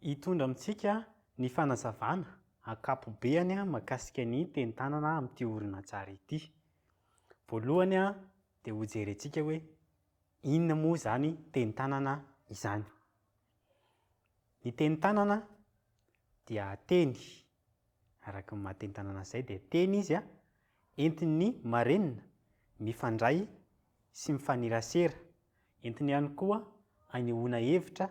Hitondra amintsika ny fanazavana ankapobeany mahakasika ny teni-tanana amin'ity horonantsary ity. Voalohany dia hojerentsika hoe inona moa izany teni-tanana izany. Ny teni-tanana dia teny, araka ny maha teni-tanana azy izay dia teny izy entin'ny marenina mifandray sy mifanerasera, entiny ihany koa anehoana hevitra.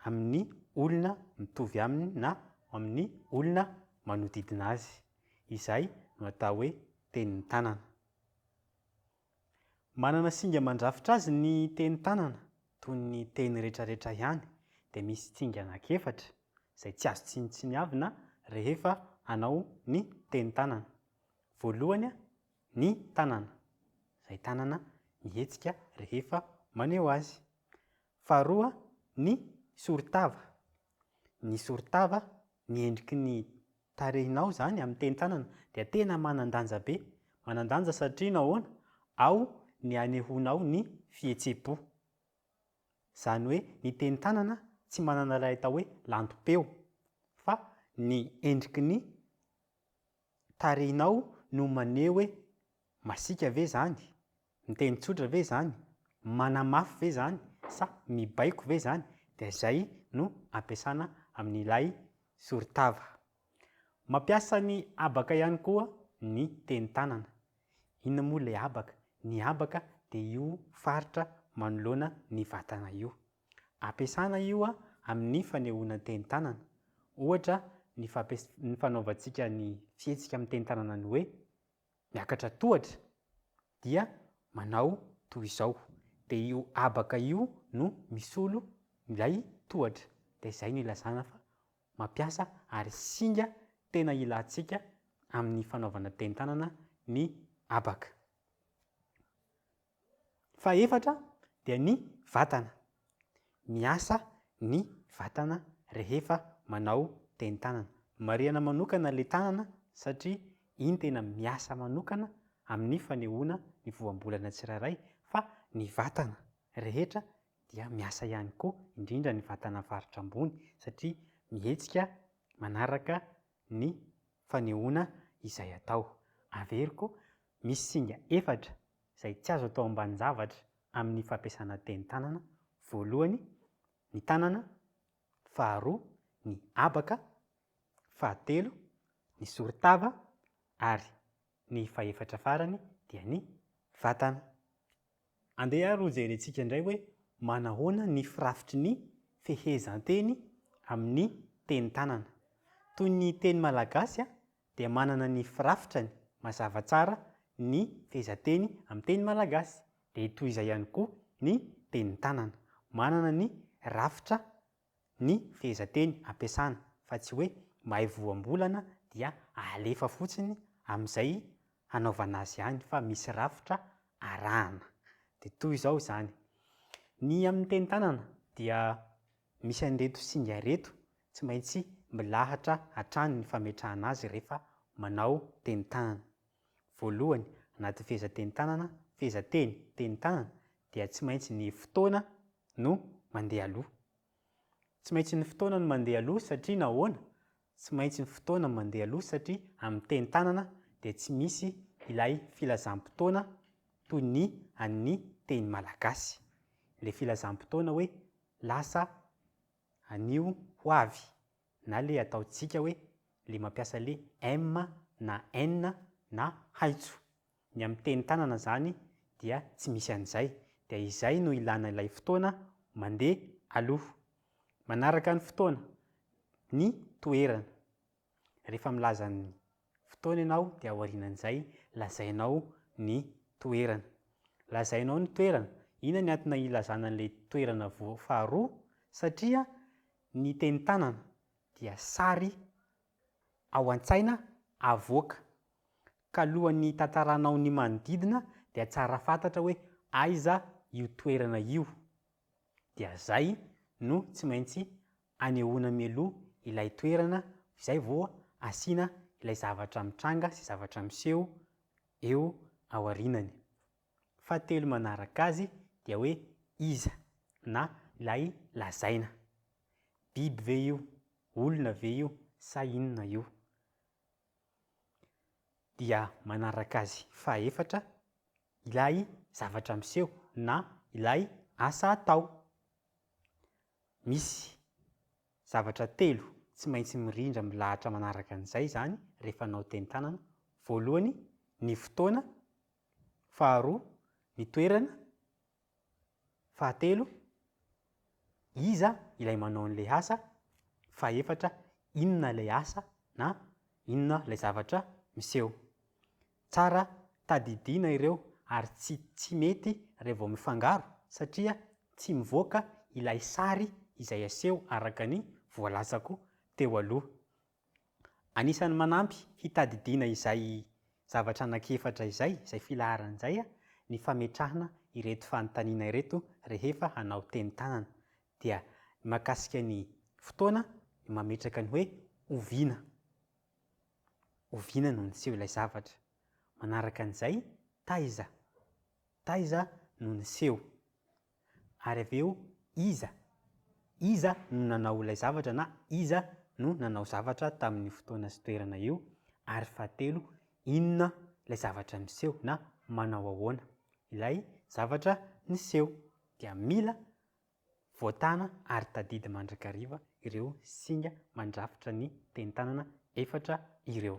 amin'ny olona mitovy aminy na amin'ny olona manodidina azy. Izay no atao hoe tenin'ny tanana. Manana singa mandrafitra azy ny tenin'ny tanana, toy ny teny retraretra ihany, dia misy tsinga anankiefatra izay tsy azo tsinontsiniavina rehefa hanao ny tenin-tanana. Voalohany, ny tanana, izay tanana mihetsika rehefa maneho azy. Faharoa, ny soritava. Ny soritava, ny endriky ny tarehinao izany amin'ny teny tanana dia tena manan-danja be. Manan-danja satria nahoana? Ao ny hanehoanao ny fihetseham-po. Izany hoe ny teny tanana tsy manana ilay atao hoe lantom-peo fa ny endriky ny Tarehinao no maneho hoe masiaka ve izany? Miteny tsotra ve izany? Manamafy ve izany? Sa mibaiko ve izany? Dia izay no ampiasana amin'ilay soritava. Mampiasa ny habaka ihany koa ny teny tanana. Inona moa ilay habaka? Ny habaka dia io faritra manoloana ny vatana io. Ampiasana io amin' ny fanehoana tenin-tanana. Ohatra, ny fampias ny fanaovantsika ny fihetsika amin'ny tenin-tanana ny hoe miakatra tohatra dia manao toy izao. Dia io habaka io no misolo ilay tohatra. Dia izay no ilazana fa mampiasa ary singa tena ilantsika amin'ny fanaovana tenin-tanana ny habaka. Fahefatra dia ny vatana. Miasa ny vatana rehefa manao tenin-tanana. Marihana manokana ilay tanana satria iny tena miasa manokana amin'ny fanehoana ny voambolana tsirairay fa ny vatana rehetra dia miasa ihany koa, indrindra ny vatana faritra ambony satria mihetsika manaraka ny fanehoana izay atao. Averiko, misy singa efatra izay tsy azo atao ambanin-javatra amin'ny fampiasana teny tanana, voalohany, ny tanana, faharoa, ny habaka, fahatelo, ny soritava, ary ny fahefatra farany dia ny vatana. Andeha ary ho jerentsika indray hoe manahoana ny firafitry ny fehezanteny amin'ny teny tanana. Toy ny teny malagasy dia manana ny firafitrany mazava tsara ny fehezanteny amin'ny teny malagasy, dia toy izay ihany koa ny tenin'ny tanana. Manana ny rafitra ny fehezanteny ampiasana fa tsy hoe mahay voambolana dia alefa fotsiny amin'izay hanaovana azy ihany fa misy rafitra arahana. Dia toy izao izany, ny amin'ny tenin'ny tanana dia. Misy an'ireto singa ireto tsy maintsy milahatra hatrany ny fametrahana azy rehefa manao tenin-tanana. Voalohany, anaty fehezan-tenin-tanana, fehezanteny, tenin-tanana, dia tsy maintsy ny fotoana no mandeha aloha. Tsy maintsy ny fotoana no mandeha aloha satria nahoana? Tsy maintsy ny fotoana mandeha aloha satria amin'ny teny tanana dia tsy misy ilay filazam-potoana toy ny an'ny teny malagasy. Ilay filazam-potoana hoe lasa anio ho avy na ilay ataontsika hoe ilay mampiasa ilay em na enn na haitso. Ny amin'ny teny tanana izany dia tsy misy an'izay, dia izay no ilana ilay fotoana mandeha aloha. Manaraka ny fotoana, ny toerana. Rehefa milaza ny fotoana ianao dia aorianan'izay lazainao ny toerana. Lazainao ny toerana, inona ny antony ilazana an'ilay toerana faharoa? Satria ny teny tanana dia sary ao an-tsaina avoaka. Ka alohan'ny hitantaranao ny manodidina dia tsara fantatra hoe aiza io toerana io. Dia zay no tsy maintsy anehoana mialoha ilay toerana izay vao asiana ilay zavatra mitranga sy zavatra miseho eo aorianany. fahatelo manaraka azy dia hoe iza na ilay lazaina. Biby ve io, olona ve io sa inona io? Dia manaraka azy fahefatra ilay zavatra miseho na ilay asa atao. Misy zavatra telo tsy maintsy mirindra milahatra manaraka an'izay izany rehefa hanao teny tanana. Voalohany ny fotoana, Faharoa, ny toerana. Fahatelo, iza ilay manao an'ilay asa. Fahefatra, inona ilay asa na inona ilay zavatra miseho. Tsara tadidiana ireo ary tsy tsy mety raha vao mifangaro satria tsy mivoaka ilay sary izay aseho araka ny voalazako teo aloha. Anisan'ny manampy hitadidiana izay zavatra anankiefatra izay, izay filaharana izay, ny fametrahana ireto fanontaniana ireto rehefa hanao teny tanana. Dia ny mahakasika ny fotoana, ny mametraka ny hoe oviana. Oviana no niseho ilay zavatra? Manaraka an'izay, taiza? Taiza no niseho? Ary avy eo, iza? Iza no nanao ilay zavatra na iza no nanao zavatra tamin'io fotoana sy toerana io? Ary fahatelo, inona ilay zavatra miseho na manao ahoana ilay zavatra niseho? Dia mila voatana ary tadidy mandrakariva ireo singa mandrafitra ny teny tanana efatra ireo.